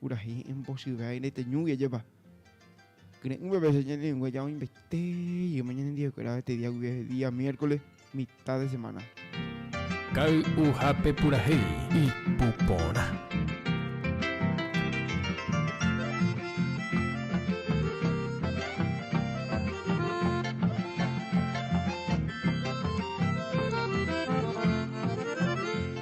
Purahéi embosyve'a'i reteñúgui ajépa. Kyre'ỹva vece ñanerengueja oĩmbaite jeýma ñanendivekuéra avetidia guive día miércoles mitad de semana. Kay'uhápe purahéi ipu porã.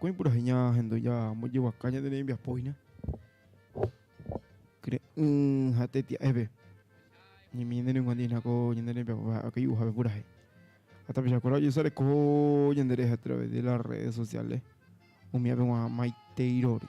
Ko'ẽ purahéi ñahendu ñambojeguaka ñande rembiapo hína kyre'ỹ ha tetia'épe. Ñemíne ningo ndéna ko ñande rembiapo ha kay'uhápe purahéi. Ha tapichakuéra ojesareko ñande rehe a través de las redes sociales, umi ape g̃uarã maiteirory.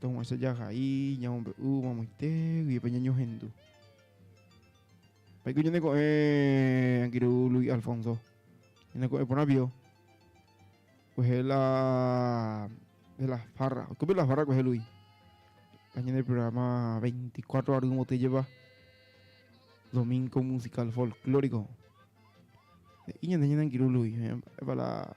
Toguãicha jahai, ñamombe'u mamoitégui pe ñañohendu. Paiko ñande ko'ẽ angirũ Luis Alfonso. Ñande ko'ẽ porã bio. Kuehe la... de la farra. Oikope la farra kuehe Luis. La ñande programa 24 ary mote lleva. Domingo musical folclórico. Y ñande ñande angirũ Luis. Epa la...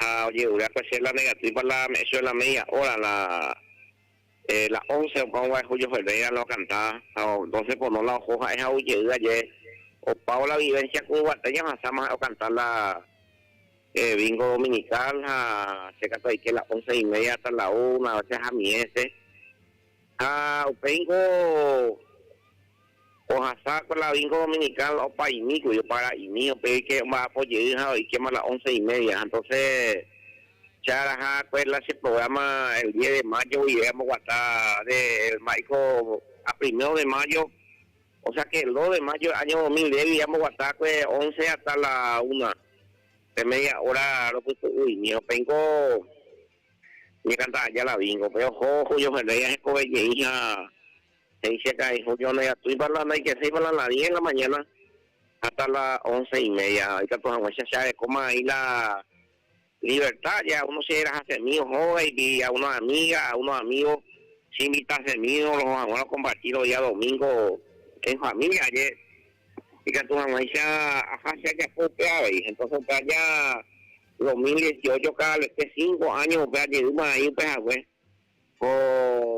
ha ojehure akueche la negativa la me echo de la media hora la la once opa ongua Julio Ferreira la okanta ha doce por no la oho ha'e ha ou jey aje opávo la vivencia ku yvate ñahasáma ha'e okanta la bingo dominical ha che katu aike la once y media hasta la una vece ha miete Ha upéingo ohasa ko la vinko dominikán la opaimi kuri, opara'imi, upe oike omba'apo jey ha oikéma la once y media. Ha entonce che araha kué la che programa el diez de mayo guive amboguata de mba'éiko a primero de mayo, o sea que el dos de mayo del año dos mil diez guive amboguata kué once hasta la una pe media hora ropytu'uimi. Ha upéingo Ñekanta aja la bingo pe oho juñohẽndéi ahekove jey ha he'i che ka'ay Julio ndoiatúipa la ndaikesýipa la la diez la mañana hasta la once y media ha ikatu hag̃uáicha che arekóma aĩ la libertad aja a uno che erahasemi ohóga y a uno amiga a uno amigo che invitasemi oroho hag̃ua ro compartir ro día domingo en familia aje ikatu hag̃uáicha aja che ajapo upe avei entonces upe aja Dos mil dieciocho kaalete cinco áño upe ajeýma aĩ upe hague ko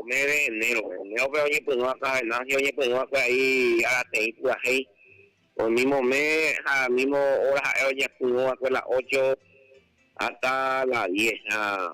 mes de enero-pe. Enero-pe oñepyrũ akã Venancio oñepyrũ akue aĩ arateĩ pyahéi. Ol mismo mes ha mismo hora ha'e oñepyrũ akue la ocho hasta la diez ha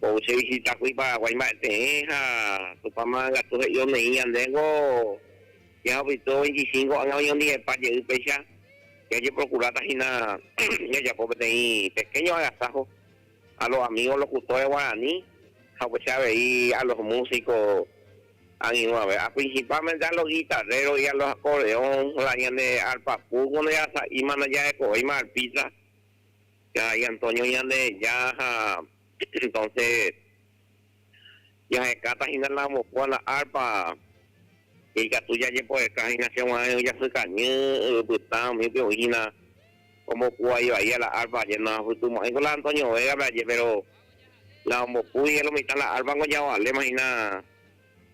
Ko che visita kuri Paraguái mba'eteẽ ha Tupãma katu he'i omeĩ ñandéngo ña apytúo veinticinco ág̃a oñondivepa jey péicha jajeprokuráta hína jajapo peteĩ pequeño agasajo a los amigos locutores guaraní ha upéicha avei a los músicos angirũave a principalmente a los guitarreros y a los acordeón la ñande arpa pulpo ndojasa'íma ndajarekovéima arpista Karai Antonio Ñandeheja ha entonce jahekáta hína la vokua, la arpa, ikatu jajepoeka hína che guarã e'ỹ jasykañy yvypytã umípe oĩ hína ombokuvai vaia la arpa aje noahapytũmo'ãi ko la Antonio Vega-pe aje pero la ombokúi lo mitã la arpa ko javaléma hína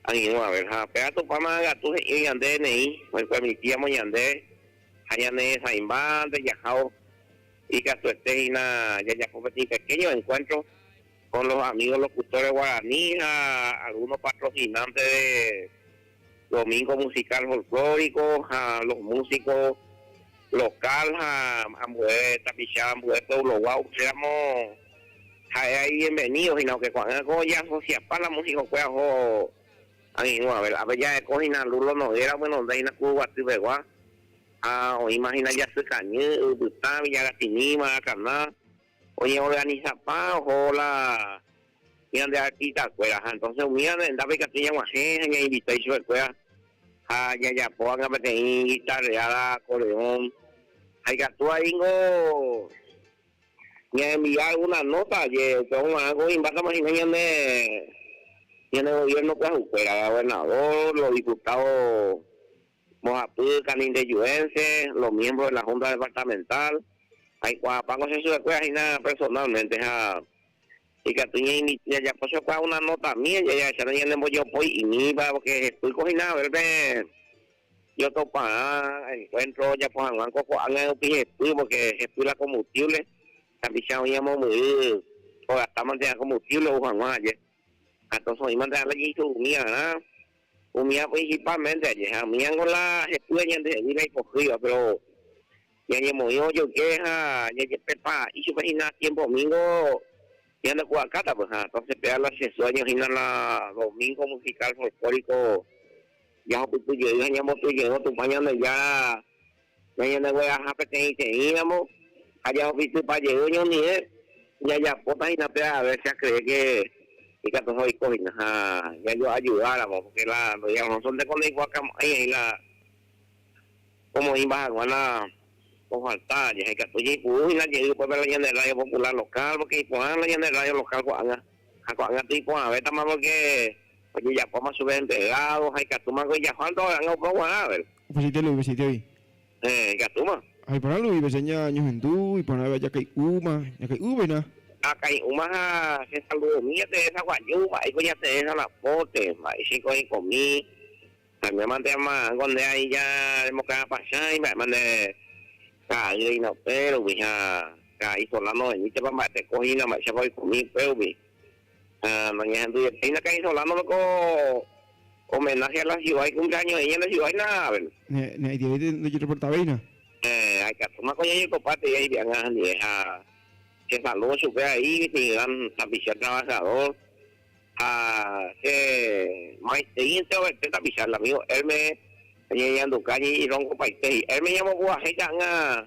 angirũ a ver ha péva Tupã magatu he'ío yande neĩ oipermitíamo ñande ha ñaneresãimbáte jahávo Ikatuete hína jajapo peteĩ pequeño encuentro con los amigos locutores guaraní ha algunos patrocinantes de Domingo Musical Folclórico ha los músicos local ha ambue tapicha ambue pueblogua upéramo ha'e ivenvenido hína oke ko'ag̃a ko jaasociapa la músicokue aho ag̃irũave ápe. Jaheko hína Lulo Noguera omoñonda hína Kuruguaty pegua. Ha oĩma hína jasy kañy, yvypytã, viña ratimíva, akana, oñeorganisapa oho la ñande artista-kuéra. Ha entonces umíva rendápe ikatu ñaguahẽ ha ñainvita ichupekuéra ha ñajapo hag̃ua peteĩ guitarreada, acordeón. Ha ikatu vai ningo ñaenvia alguna nota aje, upéva oguarãngo oĩmbátama hína ñane ñane gobierno pyahukuéra, gobernador, los diputados. Mbohapy camindejuense, los miembros de la Junta Departamental, aikuaapáko che chupekuéra hína personalmente ha ikatu ñajapo chupekuéra una notami jahecháta ñanembojopói imíva, porque jepýko hína haber pe ñotoparã encuentro ojapo hag̃ua ko ko'ág̃a rupi jepy, porque jepy la combustible, tapicha oĩ amombyry ogastamante'arã combustible ou hag̃ua aje. Ha toso'ímante ha lajeiso umi arã, umi ã principal mente aje, ha umi ãngo la hepy aje ande he'gui la ipohýiva, pero ñañemoĩ ojoyke ha jajepepa ichupe hina tiempo domingo ñande pu'akáta py, ha entonces péva la che sueño hína la domingo musical folclórico jahupyty jey ha ñamboty jeývo Tupã Ñandejára Ñañandegueraha peteĩteĩramo ha jahofisypa jey oñondive, jajapóta hína pe avése akree ke ikatuha oiko hína ha jajoajudáramo, pórke la ndoia Rosónteko ndoikuaakamo'ãi he'i la omoĩmba hag̃ua la ofalta. Jahekatu jaipuru hína jey upépe la ñande rrádio populár lokál, pórke iporã la ñande rrádio lokál ko'ág̃a, ha ko'ág̃a toiporãvétama pórke Ojejapóma chupe enterrádo ha ikatúma niko ijaha ndoha'anga opa guarãvere. Upeichaite Luis Vicentevi. Héẽ, ikatúma. Ha iporã Luis Viceña ñohendu, iporã veve ajakay'úma, jakay'u vena. Akay'úma ha chesaludomi jateresa guaju, mba'éiko jateẽ ha napóte, mba'éichaiko aikomi, añámante ama'ãngo nde aĩ ja remokarapachã imba'éma nde kaa'y reína upérugui ha ka'a isola noveñítepa mba'eteko hína mba'éichapa oikomi upérugui, Ha noñehendujepi la cainsolándope ko homenaje a la ciudad ikumleaño'ỹ ñande ciudad-ína árabe. Ne, ne aitievéite ndojereportavéina. Héẽ, aikatúma ko jajekopa tei aipe'anga anive ha chesaludo chupe aĩ, mi gran tapicha trabajador, ha che maitei enterovete tapicha, el amigo Hermes, ñañeñanduka, ñeñerongopaite, hi'érme ñamopu'ãhéi ta'anga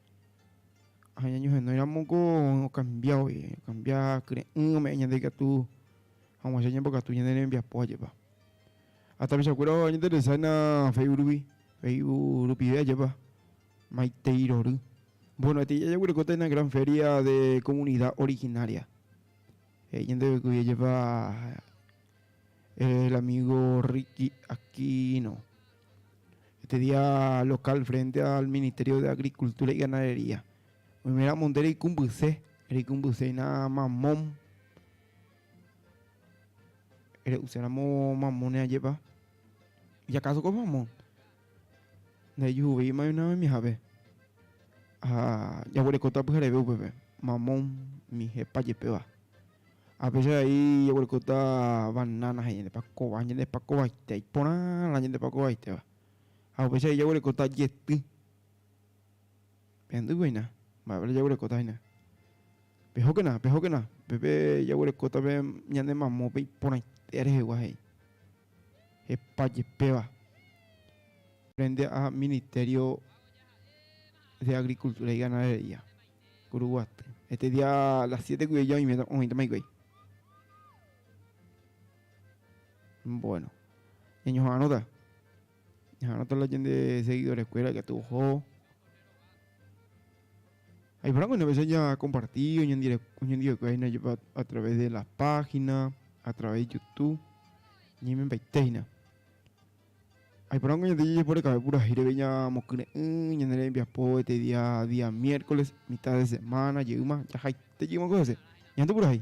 Ha ñañohenói ramo ko okambia voi, okambia kyre'ỹ ome'ẽ ñande ikatu hag̃uáicha ñambokatu ñane rembiapo ajépa. Ha tapichakuéra oñainteresáina Facebook rupi, Facebook rupive ajépa, maitei rory. Bueno, peteĩ jaguerekóta una gran feria de comunidad originaria. He'i ñande yvy ajépa El amigo Ricky Aquino, este día local frente al Ministerio de Agricultura y Ganadería. Oime ramonde reikumbyse, reikumbyseina mamón. Re'uséramo mamón neajepa. ¿Y acaso con mamón? Ndaijujuvei imayma oĩhápe, ha jaguerekóta pyhareve upépe mamón, mijepa jepéva. Ha péicha vai jaguerekóta banána ha ñande pakova, ñande pakovaite, iporãrã ñande pakovaiteva. Ha upéicha vai jaguerekóta jety, pehendýpe hína, mba'épa jaguerekóta hína. Pehókena, pehókena, upépe jaguerekóta ñande mamópe iporãite rehegua he'i. hepa jepéva frente a Ministerio de Agricultura y Ganadería, Kuruguaty. Este día a las siete guive oĩvéta, oĩtama hikuái. Bueno, ñañoha'arõta. Ñaharãta la ñande seguidores kuéra katu oho. Aiporãko una vez oña compartido, oñandivekue hína jepa a través de la página, a través de YouTube, ñaimempaite hína. Aiporãko ñande jajeporekave purahéi reve ñamokyre'ỹ ñane rembiapo este día, día miércoles, mitad de semana jeýma, jahaite jeýma ko hese, ñande purahéi.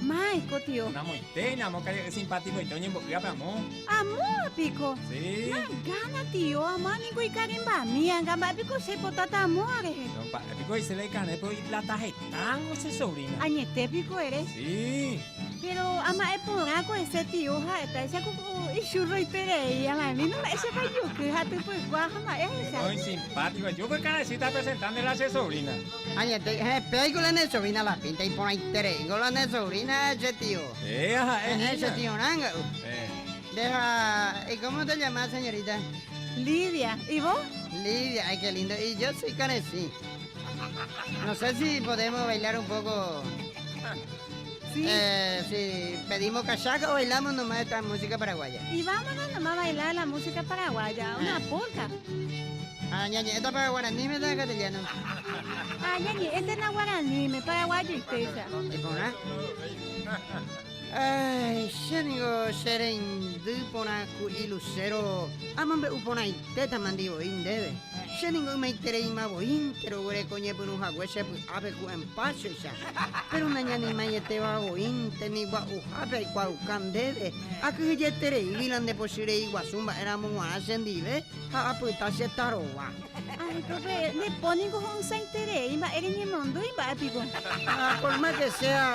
Mãi ko tio. Namoitéi, namokaja'y simpatikoite oñembo'y ápe amo. Amóva piko? Sí. Nagana tio, amóva niko ikarimbami, anga mba'e piko che potáta amóva rehe. No mba'e piko he'ise la ikarẽ pero iplata hetángo che sobrina. Añete piko ere? Sí. Pero ama'e porã ko ese tio ha'etáicha ko ku ichurro iperei, ama'e vino mba'éichapa ijoky ha typykua ha mba'e hecha. Muy simpático, yo ko ikarãichita presentánde la che sobrina. Añetéi, ehe, pe aiko la ne sovina la pínta iporãitereíngo la ne sovrina che tio. Péa ha'e hína. Ehe, che tio ranga'u. Nde ha y cómo se llama señorita? Lidia. Y vos? Lidia, ay qué lindo. Y yo soy Caresí. No sé si podemos bailar un poco. Eh, sí, pedimos cachaca o bailamos nomás esta música paraguaya. Y vámonos nomás a bailar la música paraguaya, una eh. polka. Ah, ñañi, esta para guaraní me da castellano. Ah, ñañi, esta es la guaraní, me paraguayo y pesa. ¿Y por nada? Ay, xénigo xerendy porã ku'i lucero amambe uporãitéta mandivoi ndéve. Xéningo ymaitereima voíntero guereko ñepyrũ hague chepy'ápe ku'en páchoicha. Péro nañanemaietéva oĩnte ni gua'uhápe aikuaauka ndéve, akyhyjeterei g̃uírã nde pochy rei guasu mba'éramo g̃uarã chendive ha apyta che tarova. Areko pe, nde po ningo ho'ysãiterei mba'e reñemondýi mba'e piko. Ha por más que sea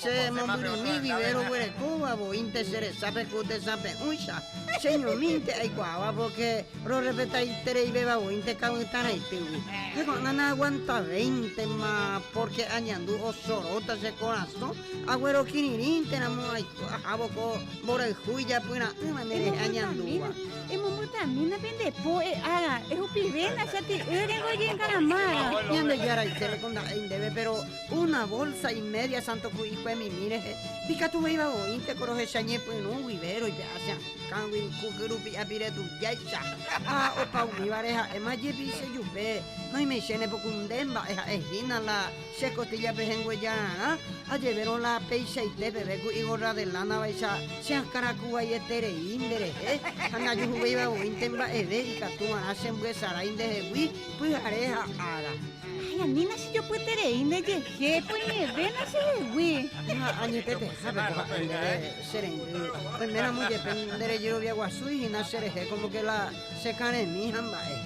che mombyrymíi vivero guerekóva voínte che resápe ku tesãpe'ũicha, cheñomínte aikuaáva porque Rorrespetaitereivéva oĩnte ka'ỹtãraitýgui. Heko'ág̃a naaguantavéintema, pórke añandu osoróta che korasõ aguero kirirĩnteramo aiko ahávo ko mborayhu ijapyra'ỹva nderehe añandúva. Emombotavẽna pende po, e'ága, ehupivẽna chati'ýre ngoyengaramárõ. Ñandejára Itéleko nda'éi ndéve, péro una vólsa imédia santo ku'i kuemimi rehe, ikatuvéiva oĩnte ko rohecha ñepyrũ guive roipe'a che a'ỹ. Kangui kuky rupi apire tujáicha. Ha opa umívare ha'éma jepi che jupe, Noimeichene poku nde mba'e ha'e hína la che kotíllape henguejararã, ajevérõ la peichaite peve ku igorra de lána vaicha che akãraku vai eterei nde rehe, ha najuhuvéiva voínte mba'eve ikatu va'erã che mbyesarái nde hegui pyhare ha ára. Ay, anína che jopyeterei nde jehe, pues ñevéna che hegui. Ha añetetehápe ko ha'e ndéve. Che rendy, oiméramo jepe nde rejerovia guasu ihína che rehe kómo ke la che karẽmi hamba'e.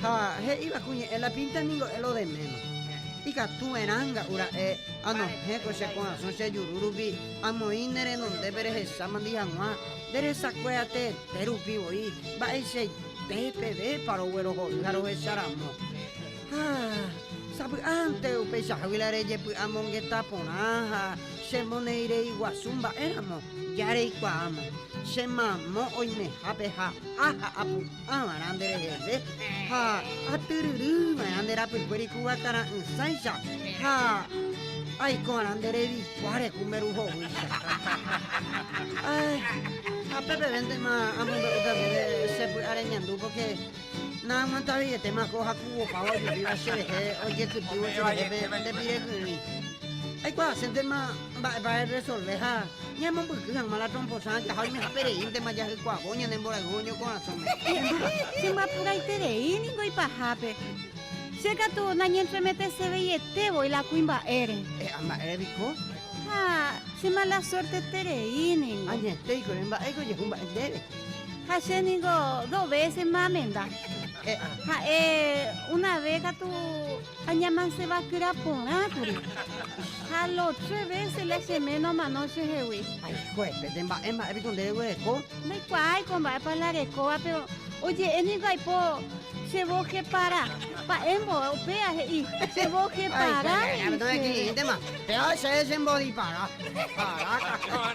Ha he'íva ku ñe'ẽ la pínta ningo e lo deméma. Ikatu erã nga'u ra'e anohẽ ko che korasõ che juru rupi amoĩ ne renondépe rehechámandi hag̃ua nde resakue teete rupi voi mba'eichaite pevépa roguerohory ha rohecha ramo. Ha sapy'ánte upéicha huila rejepy'amongeta porã ha chemonereiguasu mba'éramo, jareikuaáma, che mamo oimehápe ha áha apu'ã va'erã nde reheve ha atyryry va'erã nde rapykuéri kuvakara'ỹsáicha ha aiko va'erã nde revikuá reju nde ru hovýicha. Ha pépevéntema amombe'úta ndéve che py'a reñandu, pórke Naaguantaveietéma ko hakuvopa ojuhúva cherehe ojekytývo cherehépe nde pire kyrỹi. Aikuaaséntema mba'épa resolve ha ñaemombyky hag̃ua la tromposa ajaha oimehápereíntema jahykuaávo ñane mborayhu oñokorasõme. Irũva, chembapuraiterei ningo ipahápe. Che katu nañentremeteseveieté voi la kuimba'ére. E'a, mba'ére piko? Ha che mala suérteterei ningo. Añetéikuri, mba'éiko ojehu mba'e ndéve. Ha che ningo dos vécesma amenda. Ha'e una vé katu añamanseva'ekuéra porã kuri. Ha los tres vése la che méno omano che hegui. Haikuépe, nde mba'e mba'e piko nde reguereko? Ndaikuaái ko mba'épa la rekóva, péro oje'e ningo aipo che vos jepara. Mba'émbo upéva he'i, che vos jepara, he'i chéve. Péva chéve che mbo dipara. Aráka.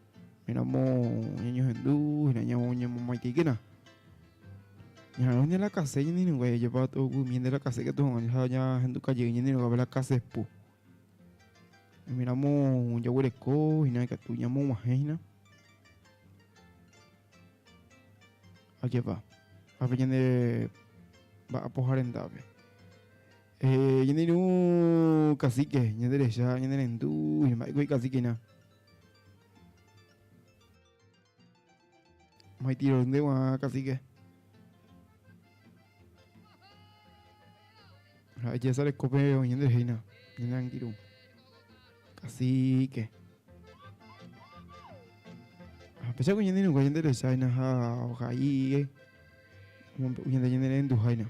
Héramo ñañohendu, hína ñamomaitãikéna. Ñaharõi ne la kase ñanenunga jajapa ovymi nde la kase katu hag̃ua ha ñahenduka jey ñanenungape la kasepu. Héramo jaguereko hína ikatu ñamog̃uahẽ hína. Ajépa, ápe ñande mba'apoha rendápe. Ñande irũ kasíke, ñande rehecha, ñande rendu, mba'éiko ikasíkena. Mai tiro de guan, casi que. Ya sale cope o ñende reina. Ñende tiro. Casi que. A pesar que ñende no ñende reina ha o jai. Ñende ñende rendu jaina.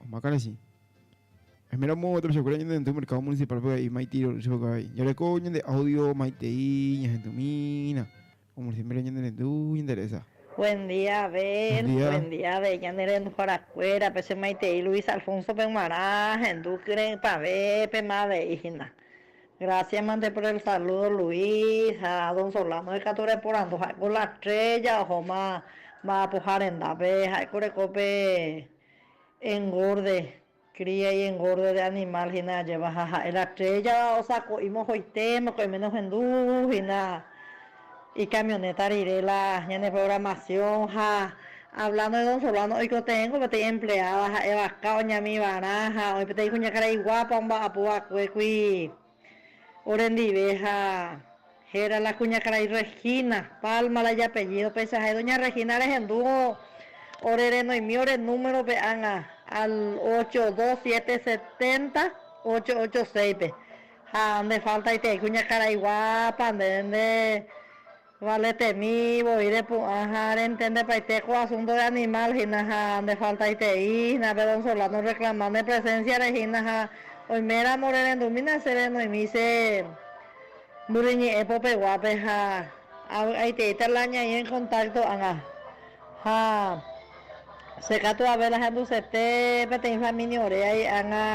Omakãrechi. Esmera omo'ã gueteri chokre ñande hendy mercado municipal pe y mai tiro chokre karai. Yare ko ñande audio mai tei ña hendy mina. Como el siempre ñande rendu ñande reza. Buen día Ben, buen día de ñande rendu hora kuera pe che mai tei Luis Alfonso pe guarã hendu kyrei pave pe ma avei hina. Gracias mante por el saludo Luis ha don Solano ikatu reporandu ha'éko la estrella ohóma mba'apoha rendápe ha'éko reko pe engorde cría y engorde de animal hína ajéva ha ha'e la estrella osako'i mohoite mokõime nohendu hína Icamioneta rire la ñane programación ha hablando de don Solano oikotevẽ ko peteĩ empleada ha'e vaka oñami varã ha oĩ peteĩ kuñakarai guapa omba'apo vakue kui ore ndive ha héra la kuñakarai Regina, Palma la ijapellido péicha ha'e doña Regina rehendu ore renoimi ore número pe ág̃a al ocho dos siete setenta ocho ocho seis pe. Ha nde faltaitei kuñakaraigua pande nde valetemi voi repu'ã ha rentendepaite ko asunto de animal hína ha nde faltaitei hína pe don Solano orreklama ne presenciare hína ha oiméramo rerendumína che renoimi che mbyryñe'ẽ popeguápe ha avy'aiteíta la ñaĩ en contacto ágã. Ha che katu avei la hendusete peteĩ família ore ai ág̃a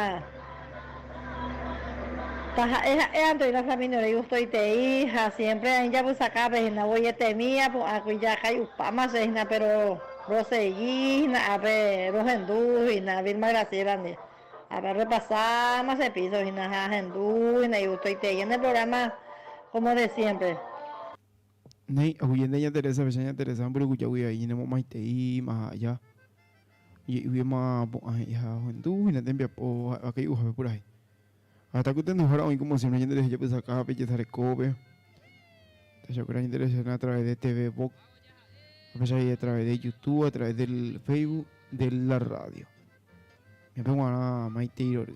taha'e ha'e ante oĩva família ore igustoitei ha siémpre aĩ japysaka pe hína voi etemi apu'ãkuri jakái upáma che hína péro rosegi hína ápe rohendu hína Vilma Graciélandi ápe arrepasáma che píso hína ha ahendu hína igustoitei ñane prográma kómo de siémpre. Néi, ohuyente ña Teresa pecha ña Teresa mborygujagui vai ñane momaitei ima ha aja. Oje'igui ima pu'ã he'i ha ohendu hína tembiapo ha'éva kai'uhápe purahéi. Ha heta kytenduhára oĩ komo siémpre ñande rehe jepysakápe, jesarekópe. Tachakuéra ñande rehecháne atraves de TV Vox, ha péicha he'i atraves de Youtube, atraves del Facebook, de la rrádio. Ñapeguarã maitei rory.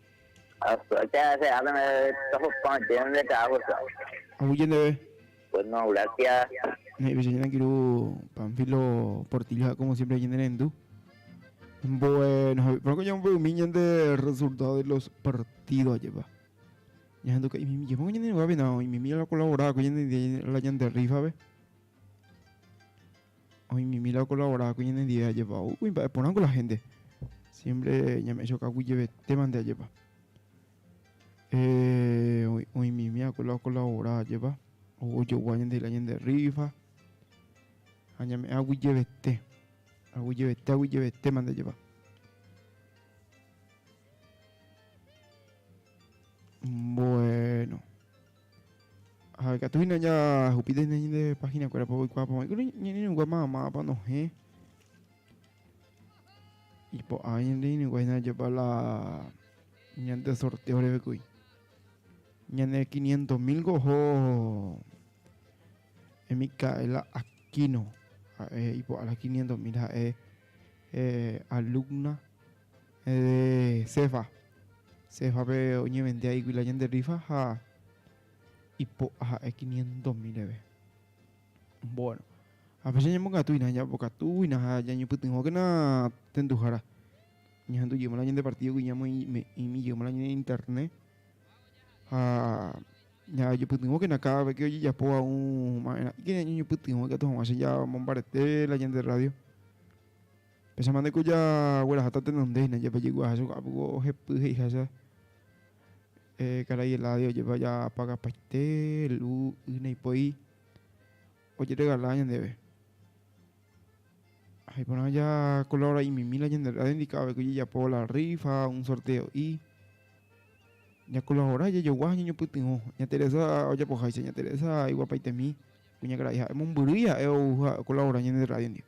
Ahuy jendeve. He'ive che ñanangirũ Panfilo Portillo ha como siempre ñane rendu. Bueno, he'i pronto ñambo umi ñande resultado de los partido ajepa. Ña handu ka'i mimi jepon ñande nuga vena, oime mira la colabora ko ñande la ñande rifa ve. Oĩmimíla okolabora hague ñanendive ajépa ou kuimba'e porã ko la hénte. Siémpre ñame'ẽchokagui jevetéma nde ajépa. Oĩmimi hague la okolabora ajépa ou ojogua ñandehegui la ñande rrífa ha ñame'ẽ agui jevete, agui jevete, agui jevetéma nde ajépa. Mboéno. Ha ikatu hína jahupíta hína ñande página kuérapa oikuaa pavãi kuri ñanereinukua ma'ãma'ãpa nohẽ. Ipo'a ñanereinukua hína jepa la ñande sorteo reve kuy. Ñane 500 mil ko oho Micaela Aquino ha'e ipo'a la 500 mil ha'e eh, alumna de Cefá. Cefápe oñevendia hígui la ñande rífa ha ipo'a ha'e quiniento mil reve. Bueno, ha péicha ñambokatúina, ñambokatúina ha ñañopytyvõkena tenduhára. Ñahendujéma la ñande partídogui ñamoĩmi jeýma la ñande internet ha ñajopytyvõkena káda ve ke ojejapóva ũ mba'erã'ỹke ñañopytyvõ ikatu hag̃ua che ñamombarete la ñande rrádio. Péicha mante ko jagueraháta tenondéhina ja pejekuaaha chuguaha piko ohepy he'iháicha eh karai Eladio ojepa ja apakapaite lu y naipoi ojeregala ñandeve. Ha iporã ja kolaborai mimi la ñande radio ndika avei ko ojejapo la rifa un sorteo'i. Ja kolabora jajogua ha ñañopytyvõ. Ña Teresa ojapoháicha ña Teresa iguapaitemi kuñakarai ha emombyry ja'e ou ha okolabora ñande radio ndive.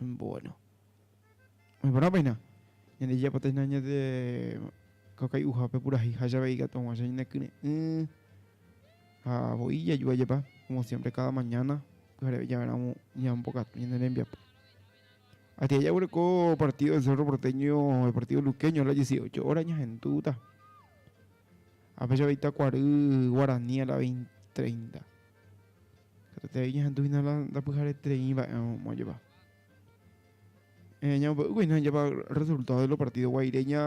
Bueno. Oĩporãpa hína, ñande jejapóta hína ñande kakai'uhápe purahéi ha jave ikatu hag̃uáicha ñanekyre'ỹ ha voi jaju ajepa, komo siémpre káda mañána pyhareve javéramo ñambokatu ñane rembiapo. Atyja jaguereko partído del Cerro Porteño, el partído luqueño a las dieciocho óra ñahendúta. Ha péichapa itakuary guarani a la veinta, treinta. Katuete ñahendu hína la ndapyharetereí va'erõ moõjapa. Eh, ñambo'eguýkuri hína japa resultado de los partidos Guaireña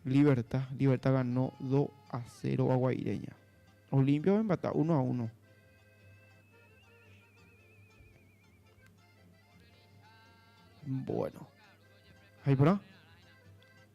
Libertad. Libertad ganó 2 a 0 a Guaireña. Olimpia va empata 1 a 1. Bueno. Ahí por ahí.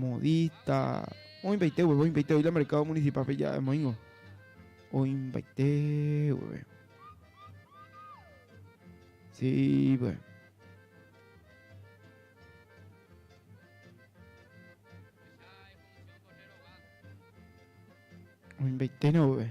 Modista, oĩmbaite gueve, oĩmbaite oĩ la mercado municipal pe ja'e moĩngo. Oĩmbaite gueve. Sí, pues. Oĩmbaite no gueve.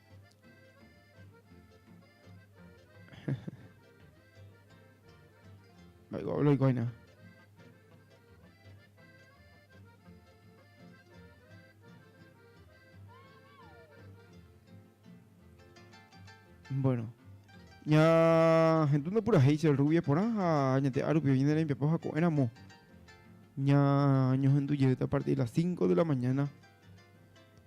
Loiko, loiko aina. Bueno. Ña gente no pura hate el rubio por ha ña te aru pio ña de papá jaco era mo. Ña ño gente llega a partir de las 5 de la mañana.